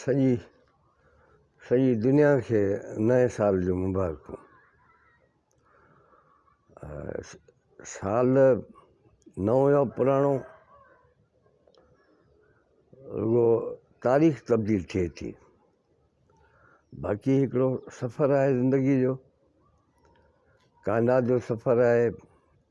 سڄي سڄي دنيا کي نئين سال جون مبارڪون سال نئون يا پراڻو رڳو تاريخ تبديل ٿئي ٿي باقي هڪڙو سفر آهي زندگي جو ڪائنات جو سفر آهي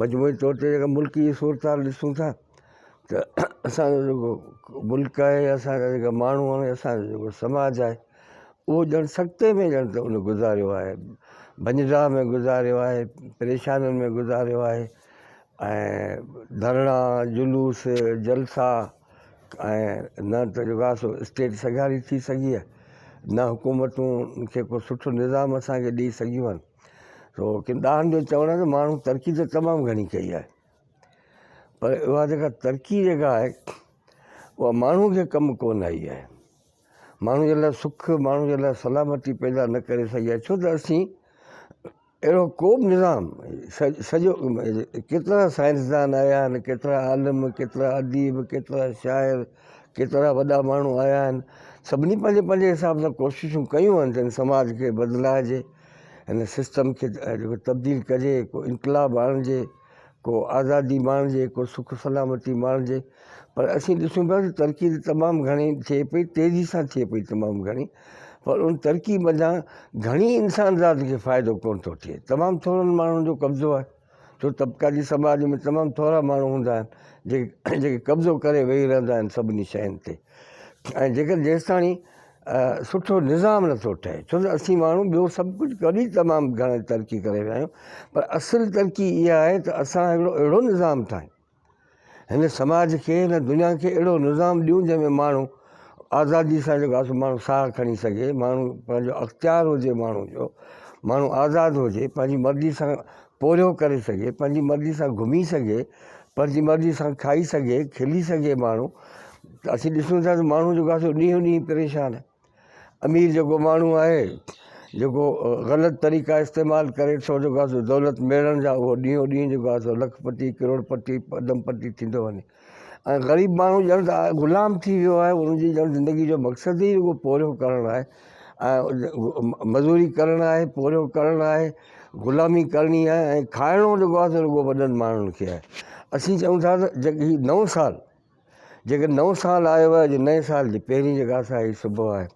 مجموعي طور تي جيڪا ملڪي صورتحال ڏسون ٿا ته اسانجو جيڪو ملڪ آهي اسانجا جيڪا ماڻهو آهن اسانجو جيڪو سماج آهي اهو ڄڻ سڪتي ۾ ڄڻ ته ان گذاريو آهي ڀڃجاء ۾ گذاريو آهي پريشانين ۾ گذاريو آهي ۽ ڌرڻا جلوس جلسا ۽ نه ته جيڪو آهي سو اسٽيٽ سگهاري ٿي سگهي آهي نه حڪومتون کي ڪو سٺو نظام اسانکي ڏئي سگهيون آهن ڪنداحن جو چوڻ آهي ته ماڻهن ترقي ته تمام گهڻي ڪئي آهي پر اها جيڪا ترقي جيڪا آهي اها ماڻهن کي ڪم ڪون آئي آهي ماڻهن جي لاء سک ماڻهن جي لاء سلامتي پيدا نه ڪري سگهي آهي ڇو ته اسين اهڙو ڪو به نظام سڄو ڪيترا سائنسدان آيا آهن ڪيترا عالم ڪيترا اديب ڪيترا شاعر ڪيترا وڏا ماڻهو آيا آهن سڀني پنهنجي پنهنجي حساب سان ڪوششون ڪيون آهن جن سماج کي بدلائجي هن سسٽم کي جيڪو تبديل ڪجي، ڪو انقلاب آڻجي، ڪو آزادي ماڻجي، ڪو سک سلامتي ماڻجي پر اسين ڏسون پيا ته ترقي ته تمام گهڻي ٿئي پئي، تيزي سان ٿئي پئي تمام گهڻي پر ان ترقي منجهان گهڻي انسان ذات کي فائدو ڪونه ٿو ٿئي، تمام ٿورن ماڻهن جو قبضو آهي. ڇو ته طبقاتي سماج ۾ تمام ٿورا ماڻهو هوندا آهن جيڪي قبضو ڪري ويهي رهندا آهن سڀني شين تي ۽ جيڪر جيستاڻي سٺو نظام نٿو ٺهي ڇو ته اسين ماڻهو ٻيو سڀ ڪجهه ڪري تمام گهڻي ترقي ڪري ويا آهيون پر اصل ترقي اها آهي ته اسان هڪڙو اهڙو نظام ٺاهيون هن سماج کي، هن دنيا کي اهڙو نظام ڏيون جنهن ۾ ماڻهو آزادي سان جيڪو آهي سو ماڻهو ساهه کڻي سگهي، ماڻهو پنهنجو اختيار هجي ماڻهو جو، ماڻهو آزاد هجي، پنهنجي مرضي سان پورهيو ڪري سگهي، پنهنجي مرضي سان گهمي سگهي، پنهنجي مرضي سان کائي سگهي، کلي سگهي ماڻهو ته اسين ڏسون ٿا ته ماڻهو جيڪو آهي سو ڏينهون ڏينهن پريشان آهي. امير جيڪو ماڻهو آهي جيڪو غلط طريقا استعمال ڪري ٿو جيڪو آهي سو دولت ميڙڻ جا اهو ڏينهون ڏينهن جيڪو آهي سو لک پتي ڪروڙ پتي پدم پتي ٿيندو وڃي ۽ غريب ماڻهو ڄڻ ته غلام ٿي ويو آهي ان جي ڄڻ زندگي جو مقصد ئي رڳو پورهيو ڪرڻ آهي ۽ مزوري ڪرڻ آهي پورهيو ڪرڻ آهي غلامي ڪرڻي آهي ۽ کائڻو جيڪو آهي سو رڳو وڏن ماڻهن کي آهي اسين چئون ٿا ته جيڪي هي نئون سال جيڪڏهن نئون سال آيو آهي جو نئين سال جي پهرين جيڪا سا هي صبح آهي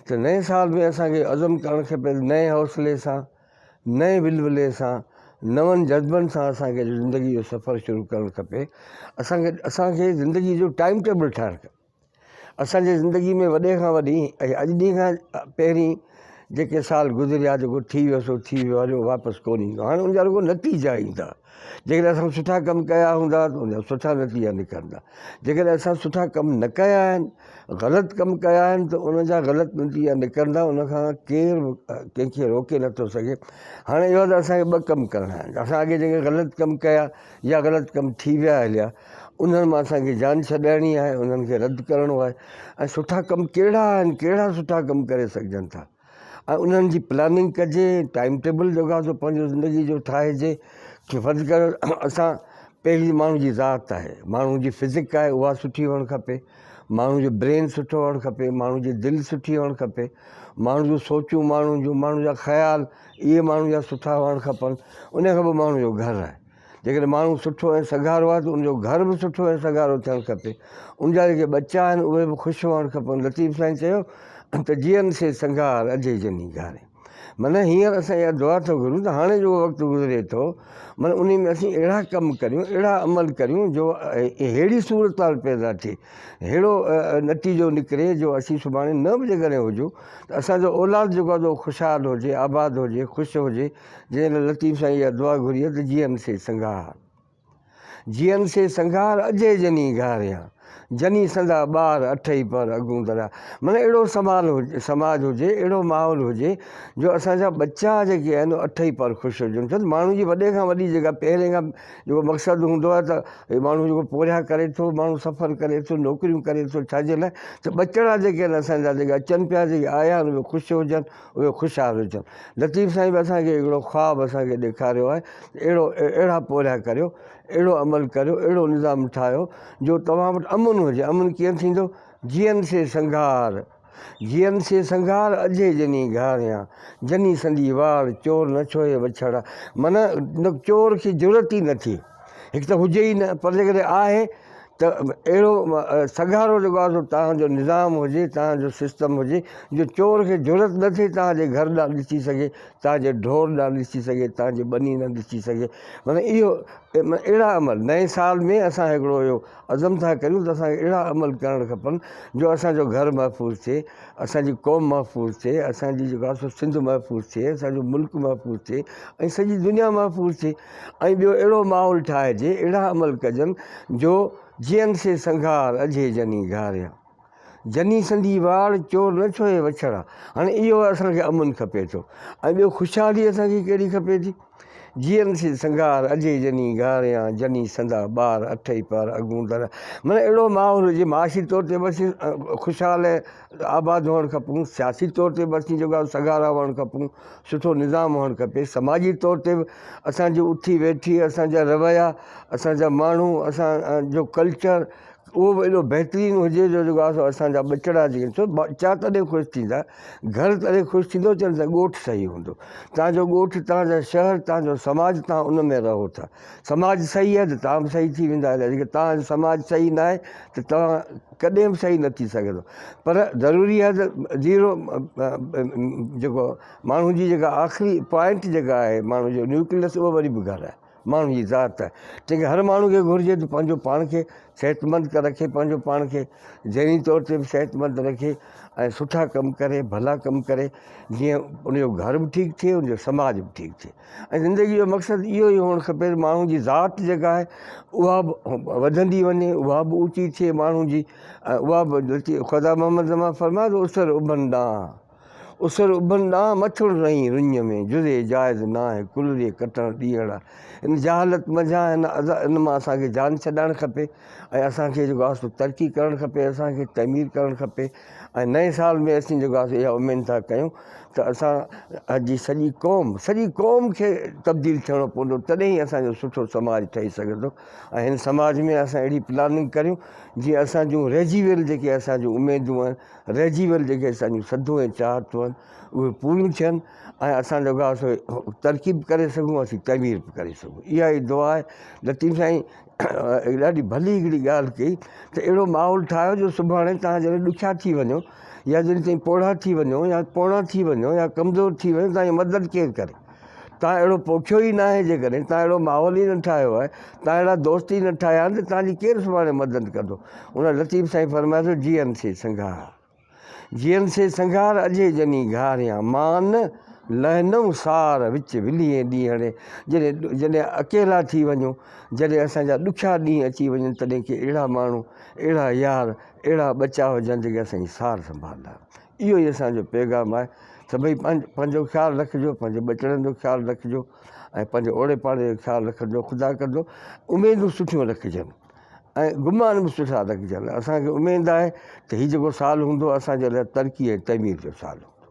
ته نئين سال ۾ اسان کي عزم ڪرڻ کپي ته نئين حوصلي سان نئين ولولي سان نون جذبن سان اسان کي زندگي جو سفر شروع ڪرڻ کپي اسان کي اسان کي زندگي جو ٽائيم ٽيبل ٺاهڻ کپي اسان جي زندگي ۾ وڏي کان وڏي ۽ اڄ ڏينهن کان پهرين جيڪي سال گذريا جيڪو ٿي ويو سو ٿي ويو آهي جو واپس ڪونهي ايندو هاڻي ان جا رڳو نتيجا ايندا جيڪڏهن اسان سٺا ڪم ڪيا هوندا ته انجا سٺا نتيجا نڪرندا جيڪڏهن اسان سٺا ڪم نه ڪيا آهن غلط ڪم ڪيا آهن ته ان جا غلط نتيجا نڪرندا ان کان ڪير ڪنهن کي روڪي نٿو سگهي هاڻي اهو ته اسان کي ٻه ڪم ڪرڻا آهن اسان اڳي جيڪي غلط ڪم ڪيا يا غلط ڪم ٿي ويا هليا انهن مان اسان کي جان ڇڏائڻي آهي انهن کي رد ڪرڻو آهي ۽ سٺا ڪم ڪهڙا آهن ڪهڙا سٺا ڪم ڪري سگهجن ٿا ۽ انهن جي پلاننگ ڪجي، ٽائيم ٽيبل جوڳا ٿو پنهنجو زندگي جو ٺاهجي، ڪي فرض ڪريو اسان پهرين ماڻهو جي ذات آهي، ماڻهو جي فزڪ آهي اها سٺي هئڻ کپي، ماڻهو جو برين سٺو هئڻ کپي، ماڻهو جي دل سٺي هئڻ کپي، ماڻهو جون سوچون، ماڻهو جون ماڻهو جا خيال اهي ماڻهو جا سٺا هئڻ کپن، انهي کان پوء ماڻهو جو گهر آهي. جيڪڏهن ماڻهو سٺو ۽ سگهارو آهي ته ان جو گهر به سٺو ۽ سگهارو ٿيڻ کپي. ان جا جيڪي ٻچا آهن اهي به خوش هئڻ کپن. لطيف سائين چيو ته جيئن سي سنگهار اجهي جني گهاري. معنيٰ هينئر اسان اها دعا ٿو گهرون ته هاڻي جيڪو وقت گذري ٿو معنيٰ انهي ۾ اسين اهڙا ڪم ڪريون اهڙا عمل ڪريون جو اهڙي صورتحال پيدا ٿئي اهڙو نتيجو نڪري جو اسين سڀاڻي نه به جيڪڏهن هجون ته اسان جو اولاد جيڪو آهي خوشحال هجي آباد هجي خوش هجي جنهن لاء لطيف سائين اها دعا گهري ته جيئن سي سنگهار جيئن سي سنگهار اجهي جني گهاريان جني سندا ٻار اٺئي پهر اڳون دريا مطلب اهڙو سمال سماج هجي اهڙو ماحول هجي جو اسان جا ٻچا جيڪي آهن اٺئي پهر خوش هجن ڇو ته ماڻهو جي وڏي کان وڏي جيڪا پهرين کان جيڪو مقصد هوندو آهي ته هي ماڻهو جيڪو پورهيا ڪري ٿو ماڻهو سفر ڪري ٿو نوڪريون ڪري ٿو ڇا جي لاء ته ٻچڙا جيڪي آهن اسان جا جيڪي اچن پيا جيڪي آيا آهن اهي خوش هجن اهي خوش حال ويٺا آهن. لطيف سائين به اسان کي هڪڙو خواب اسان کي ڏيکاريو آهي ته اهڙو اهڙا پورهيا ڪريو، اهڙو عمل ڪريو، اهڙو نظام ٺاهيو جو توهان وٽ امن هجي. امن ڪيئن ٿيندو؟ جيئن سي سنگهار، جيئن سي سنگهار، اجهي جني گهاريان، جني سندي واڙ، چور نه ڇوهي وڇڙا. معنيٰ چور کي جرئت ئي نه ٿئي. هڪ ته هجي ئي نه پر جيڪڏهن آهي ته اهڙو سگهارو جيڪو آهي سو توهان جو نظام هجي توهان جو سسٽم هجي جو چور کي جرئت نه ٿئي توهان جي گهر ڏانهن ڏسي سگهي توهان جي ڍور ڏانهن ڏسي سگهي توهان جي ٻني ڏانهن ڏسي سگهي معنيٰ اهو اهڙا عمل نئين سال ۾ اسان هڪڙو اهو عزم ٿا ڪريون ته اسان کي اهڙا عمل ڪرڻ کپن جو اسان جو گهر محفوظ ٿئي اسان جي قوم محفوظ ٿئي اسان جي جيڪو آهي سو سنڌ محفوظ ٿئي اسان جو ملڪ محفوظ ٿئي ۽ سڄي دنيا محفوظ ٿئي ۽ ٻيو اهڙو ماحول ٺاهجي، اهڙا عمل ڪجن، جو جيئن سي سنگهار، اجهي جني گهاريا. جني سندي واڙ، چور نه ڇهي وڇڙا. هاڻي اهو اسان کي امن کپي ٿو ۽ ٻيو خوشحالي اسان کي ڪهڙي کپي ٿي. جيئن سي سنگهار، اجهي جني گهاريا، جني سندا ٻار، اٺئي پهر اڳون در. معنيٰ اهڙو ماحول هجي، معاشي طور تي به اسين خوشحال ۽. آباد هئڻ کپون، سياسي طور تي به اسين جيڪو آهيون سگهارا هئڻ کپون، سٺو نظام هئڻ کپي، سماجي طور تي به اسان جي اٿي ويٺي، اسان جا رويا، اسان جا ماڻهو، اسان جو ڪلچر اهو به ايڏو بهترين هجي جو جيڪو آهي سو اسان جا ٻچڙا جيڪي سو ٻچا تڏهن خوش ٿيندا، گهر تڏهن خوش ٿيندو جڏهن ته ڳوٺ صحيح هوندو، توهان جو ڳوٺ، توهان جا شهر، توهان جو سماج توهان ان ۾ رهو ٿا، سماج صحيح آهي ته توهان به صحيح ٿي ويندا، جيڪڏهن توهان جو سماج صحيح ناهي ته توهان. ڪڏهن به صحيح نه ٿي سگهندو پر ضروري آهي ته زيرو جيڪو ماڻهو جي جيڪا آخري پوائنٽ جيڪا آهي ماڻهو جو نيوڪليس اهو وري به گهر آهي ماڻهو جي ذات تنهنکري هر ماڻهو کي گهرجي ته پنهنجو پاڻ کي صحتمند رکي پنهنجو پاڻ کي ذهني طور تي به صحتمند رکي ۽ سٺا ڪم ڪري ڀلا ڪم ڪري جيئن ان جو گهر به ٺيڪ ٿئي ان جو سماج به ٺيڪ ٿئي ۽ زندگي جو مقصد اهو ئي هئڻ کپي ته ماڻهو جي ذات جيڪا آهي اها به وڌندي وڃي اها به اوچي ٿئي ماڻهو جي ۽ اها به لچي خدا محمد زمان فرمايو ته اسر اڀن ڏانهن اسر اڀن ڏانهن مٿڙ رئين رڃ ۾ جزي جائز ناهي ڪل ري ڪٽڻ ڏينهڙا ان جهالت منجهان ان ازا ان مان اسان کي جان ڇڏائڻ کپي ۽ اسان کي جيڪو آهي سو ترقي ڪرڻ کپي اسان کي تعمير ڪرڻ کپي ۽ نئين سال ۾ اسين جيڪو آسي اها اميد ٿا ڪيون ته اسان جي سڄي قوم سڄي قوم کي تبديل ٿيڻو پوندو تڏهن ئي اسان جو سٺو سماج ٺهي سگهي ٿو ۽ هن سماج ۾ اسان اهڙي پلاننگ ڪريون جيئن اسان جون رهجي ويل جيڪي اسان جون اميدون آهن رهجي ويل جيڪي اسان جون سڌون ۽ چاهتون آهن اهي پوريون ٿين ۽ اسان جيڪو آهي سو ترقي به ڪري سگهون اسين تعمير به ڪري سگهون اها ئي دعا آهي لطيف سائين ڏاڍي ڀلي هڪڙي ڳالهه ڪئي ته اهڙو ماحول ٺاهيو جو سڀاڻي تهان جڏهن ڏکيا ٿي وڃو يا جڏهن تهين پوڙها ٿي وڃو يا پوڻا ٿي وڃو يا ڪمزور ٿي وڃو تهان جي مدد ڪير ڪري تهان اهڙو پوکيو ئي نه آهي جيڪڏهن تهان اهڙو ماحول ئي نه ٺاهيو آهي تهان اهڙا دوست ئي نه ٺاهيا آهن ته تهان جي ڪير سڀاڻي مدد ڪندو ان لطيف سائين فرمايو ته جي ايم سي سنگهاها جيئن سي سنگهار اجهي جني گهاريان مان لهنئون سار وچ ولهين ڏينهڙي جڏهن اڪيلا ٿي وڃو جڏهن اسان جا ڏکيا ڏينهن اچي وڃن تڏهن ڪي اهڙا ماڻهو اهڙا يار اهڙا ٻچا هجن جيڪي اسان جي سار سنڀالندا اهو ئي اسان جو پيغام آهي ته ڀئي پنهنجو خيال رکجو پنهنجي ٻچڙن جو خيال رکجو ۽ پنهنجي اوڙي پاڙي جو خيال رکجو خدا ڪندو اميدون سٺيون رکجن. ۽ گمان به سٺا رکجن، اسان کي اميد آهي ته هي جيڪو سال هوندو اسان جي لاء ترقي ۽ تعمير جو سال هوندو.